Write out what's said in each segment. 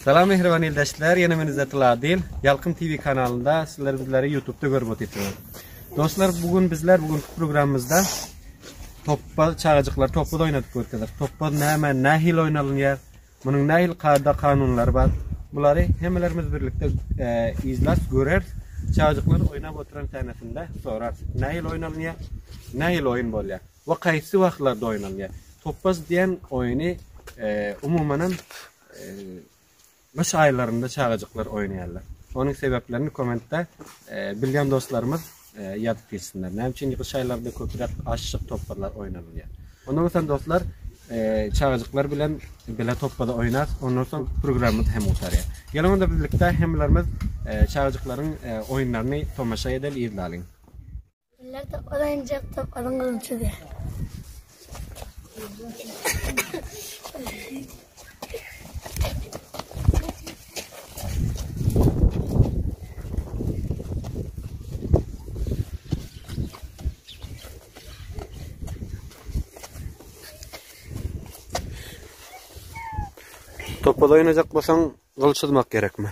Salam mähriban ildeşler, ýene men Izzet Ladil, Ýalkym TV kanalynda, sizler bizleri YouTube-da görüp otyrsyňyz. Dostlar, bu gün bizler bu günki programmamyzda topbaz çagajyklar topbaz oýnadyp görkezdik. Topbaz näme, nähili oýnalýar? Munuň nähili kada kanunlary bar? Bulary hemmelerimiz birlikde e, izlär, görer. Çagajyklar oýnap oturan tänesinde sorar. Nähili oýnalýar? Nähili oýun bolýar? we haýsy wagtlarda oýnalýar? Topbaz diýen oýny umumanam gyş aýlarynda çagajyklar oýnaýarlar. Onuň sebäplerini kommentde bilýän dostlarymyz ýazyp geçsinler. Näme üçin gyş aýlarynda köpräk aşşyk topbazlar oýnalýar? Onda bolsa dostlar, çagajyklar bilen bile topbazy oýnas, ondan soň programmamyz hem gutarýar. Geliň onda birlikde hemmelerimiz çagajyklaryň oýunlaryny tomaşa edeli, yzlalyň. Güller topar aýnjak, toparyň gylyjy däl. Topal oýnajak bolsaň, gylyç tutmak gerekmi?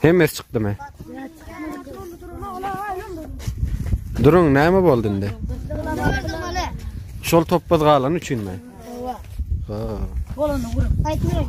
Hemesi çykdymy? Durun, näme boldy indi? Şol topbaz galan üçinmi? Ha. Bolany gurup. Aýtmaýyn.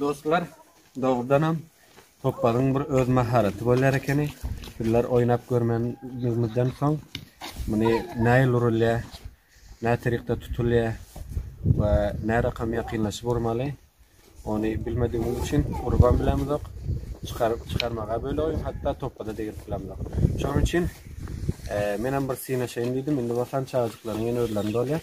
Dostlar, dogrudanam topbagyň bir öz maharaty bolýar ekeni. Bizler oýnap görmänimizden soň muny nähili urulýar, näterikde tutulýar we närakam ýakynlaşyp urmaly, ony bilmedigimiz üçin urubam bilemizok, çykaryp çykarmaga bölegim, hatda topbada degirip bilemizok. Şonuň üçin menem bir synaşaýyn diýdim. Indi bolsa çagajyklaryň ýene özlerini dolýar.